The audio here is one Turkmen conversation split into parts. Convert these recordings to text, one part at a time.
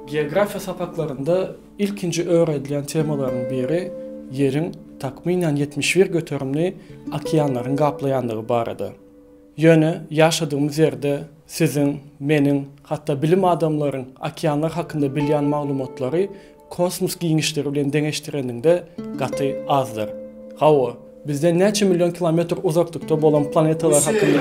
Geografiýa sapaklarynda ilkinji öwredilýän temalaryň biri Ýeriň takmynan ýetmiş bir göterimini okeanlaryň gaplaýandygy barada. Ýöne ýaşadygymyz ýerde siziň, meniň, hatda bilim adamlaryň okeanlar hakynda bilýän maglumatlary kosmos giňişligi bilen deňeşdireniňde gaty azdyr. Hawa, bizden näçe million kilometr uzaklykda bolan planetalar hakynda.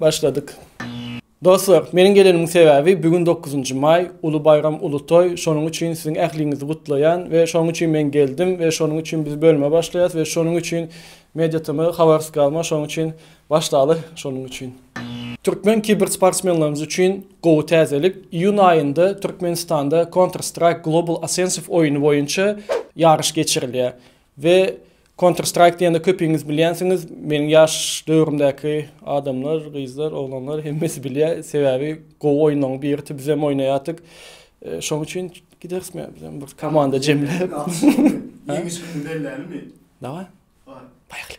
Başladyk. Dostlar, meniň gelenimiň sebäbi bigün dokuzynjy maý, uly baýram, uly toý, şonuň üçin siziň ähliňizi gutlaýan we şonuň üçin men geldim we şonuň üçin biz bölüme başlaýas we şonuň üçin MediaTm, Habarskama şonuň üçin başlaly şonuň üçin. Türkmen kibersportsmenlerimiz üçin gowy täzelik, iýun aýynda Türkmenistanda Counter Strike Global Offensive oýny boýunça ýaryş geçirilýär. We Counter Strike diýende köpiňiz bilýänsiňiz, meniň ýaş döwrümdäki adamlar, gyzlar, oglanlar hemmesi bilýär, sebäbi gowy oýunlaryň birisi, bizem oýnaýardyk. Şonuň üçin gideris me bizem bir komanda jemläp. Ýeňiş gününi bellälimi? Dawaý. Poýhali.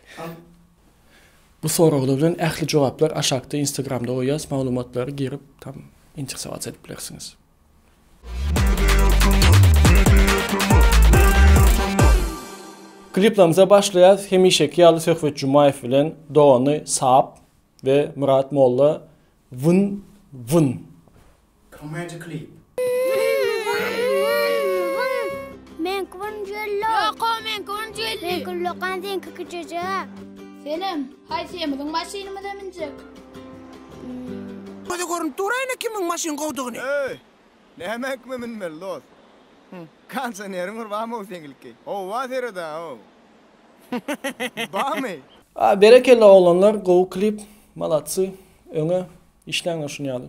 Bu soraglar bilen ähli jogaplar aşakda Instagramda goýýas, maglumatlary girip tam intrsowatsiýa edip bilersiňiz. Kliplerimize başlaýarys. Hemişeki ýaly Söhbet Jumaýew bilen dogany Sap we Myrat Molla Wyn Wyn. Komedi klip. Men Kwon Jello. Ýoko, men Kwon Jelli. Men Kullokan sen Kiki Jeje. Selam, Haýsymyzyň maşynymyza münjek? Göze görünip dur-a ine kimiň maşyn gowdugyny. Öý! Näme kime münmeli dost? Konsioneriň bir bamy-ow seňilki? Howa sered-a-ow. Bamy? Berekella oglanlar gowy klip malatsy öňe işläňler şuny ýaly.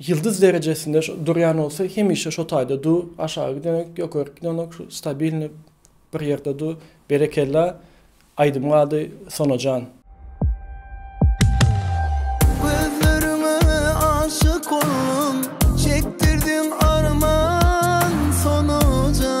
Ýyldyz derejesinde şu durýan bolsa hemişe şo taýda du aşagy gidenok ýokaryk gidenok şu stabilnyý bir ýerde du berekella aýdymyň ady Sonajan. Gözleriňe aşyk oldum çekdirdiň arman Sonajan.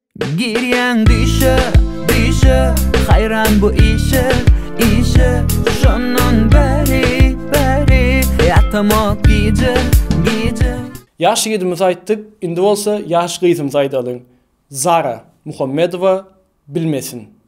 Girýäň düýşe, düýşe, haýran bu işe, işe Şondan bäri, bäri, ýatamok gije, gije. Ýaş ýigidimizi aýtdyk, indi bolsa ýaş gyzymyzy aýdalyň. Zara Muhammedowa bilmesin.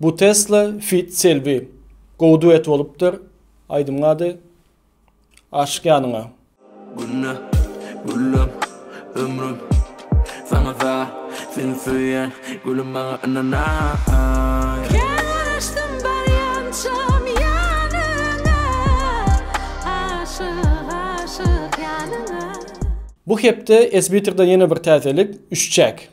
Bu Tesla feat Selbi. Gowy duet bolupdyr. Aýdymyň ady Aşyk ýanyňa. Gülle güllem ömrüm saňa za Seni söýen gülüm maňa ynanaý. Kän garaşdym barýançam ýanyňa Aşyk aşyk ýanyňa. Bu hepde Esbitrden ýene bir täzelik, üçjäk.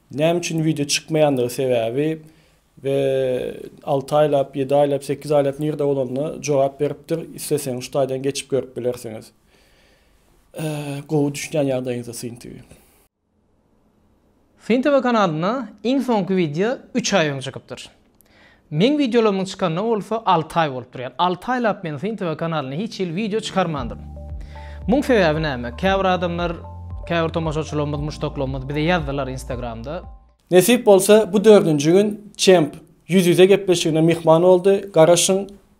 Näme üçin wideo çykmaýandygy sebäbi we alty aýlap ýedi aýlap sekiz aýlap nirde bolanda jogap beripdir isleseňiz şu taýdan geçip görüp bilersiňiz gowy düşünýän ýagdaýyňyzda syn tv. Syn tv kanalyna iň soňky wideo üç aý öň çykypdyr. Meň wideolarymyň çykanyna bolsa alty aý bolup durýar. Alty aýlap men Syn TV kanalyna hiç hili wideo çykarmandyryn. Muň sebäbi näme? Käbir adamlar, käbir tomaşaçylarymyz, muşdaklarymyz bize ýazdylar Instagramda. Nesip bolsa bu dördünji gün Çemp ýüz-ýüze gepleşigine myhman boldy, garaşyň!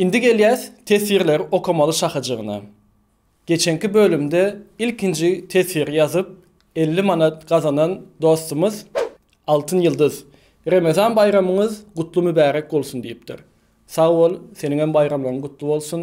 Indi gelýäs teswirleri okamaly şahyjygyna. Geçenki bölümde ilkinji teswiri ýazyp elli manat gazanan dostumyz Altyn ýyldyz Remezan baýramyňyz gutly mübärek bolsun diýipdir. Sag bol, seniňem baýramlaryň gutly bolsun.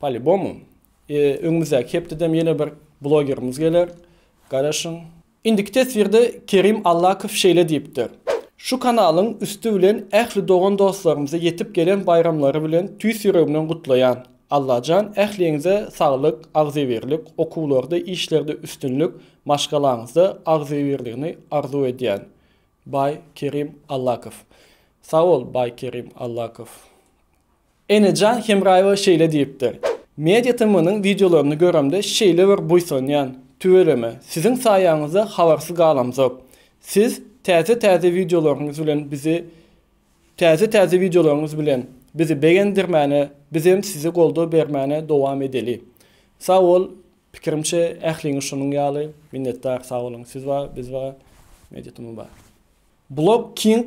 Palibomu. Öňümizdäki hepdedem ýene bir blogerimiz geler. Garaşyň. Indiki teswirde Kerim Allakow şeýle diýipdir, Şu kanalyň üsti bilen ähli dogan dostlarymyzy ýetip gelen baýramlary bilen tüýs ýüregimden gutlaýan. Allajan ähliňize saglyk, agzybirlik, okuwlarda, işlerde üstünlik, maşgalaňyzda agzybirligini arzuw edýän. Baý Kerim Allakow. Sag bol Baý Kerim Allakow. Enejan Hemraýewa şeýle diýipdir, Media TM-niň wideolaryny göremde şeýle bir buýsanýan, tüweleme, siziň saýaňyzda habarsyz galamzok. Siz täze-täze wideolaryňyz bilen bizi täze-täze wideolaryňyz bilen bizi begendirmäne, bizem size goldaw bermäne dowam edeli. Sag bol, pikirimçe ähliňiz şonuň ýaly. Minnetdar, sag boluň. Siz bar, biz bar, Media TM bar. Blog King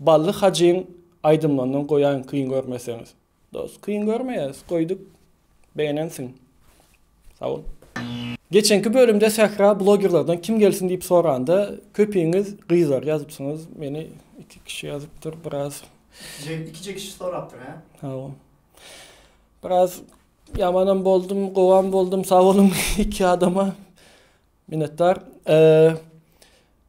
Bally Hajyň aýdymlaryndan goýaýyň kyn görmeseňiz. Dos kyn görmeýäs goýduk begenensiň sagbol. Geçenki bölümde Sähra blogerlerden kim gelsin diýip soranda köpiňiz gyzlar ýazypsyňyz meni iki kişi ýazypdyr biraz Ikije kişi sorapdyr hä? Hawa. Biraz ýamanam boldum gowam boldum sag boluň iki adama Minnetdar. Eee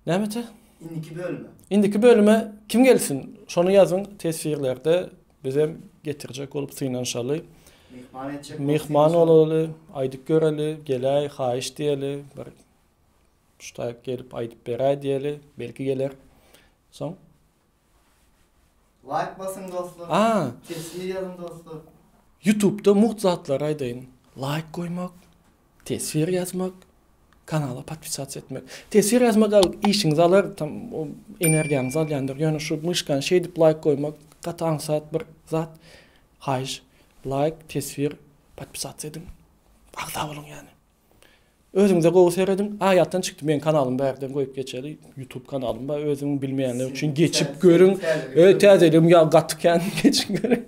Nämete? Indiki bölüme. Indiki bölüme kim gelsin? Şony ýazyň teswirlerde bizem getirjek bolup synanyşaly. Myhman etjek. Myhman bolaly, aýdyp göreli, geläý, haýyş diýeli, bir ştaýk gelip aýdyp beräý diýeli, belki geler. Soň Laýk basyň dostlar. Aa. Sesini ýazyň dostlar. Ýutubda mugt zatlary aýdaýyn. Laýk goýmak, teswir ýazmak, kanala podpisatsa etmek. Teswir ýazmak al işiňizi alar tam o energiýaňyzy alýandyr. Ýöne şu myşkany şeýdip laýk goýmak gaty aňsat bir zat. Haýyş laýk, teswir, podpisatsa ediň. Agza boluň ýani. Özüňize gowy serediň. Aýatdan çykdy meň kanalymy bärden goýup geçeli. YouTube kanalym bar. Özüň bilmeýänler üçin geçip görüň. Ö täzeligim ýa gaty kän geçip görüň.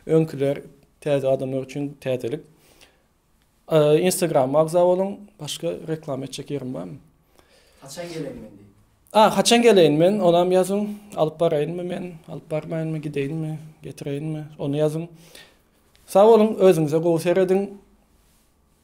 Öňküler täze adamlar üçin täzelik. Instagram agza boluň. Başga reklama etjek ýerim barmy? Haçan geleýin men? A, haçan geleýin men? Onam ýazyň. Alyp baraýynmy men? Alyp barmaýynmy? Gideýinmi? Getireýinmi? Ony ýazyň. Sag boluň, özüňize gowy serediň.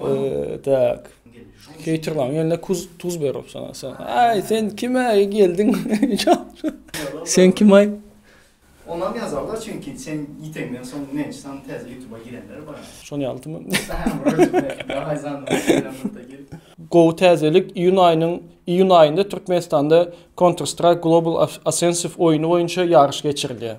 Eee tak. Keýtirmaň ýöne kuz tuz ber opsana. Aý sen kime geldiň? Sen kim aý? Onam ýazarlar çünki sen ýiteňden soň näçe sany täze ýutuba girenler bar. Şony ýaltymy? Gowy täzelik iýun aýynyň iýun aýynda Türkmenistanda Counter Strike Global Offensive oýny boýunça ýaryş geçirilýär.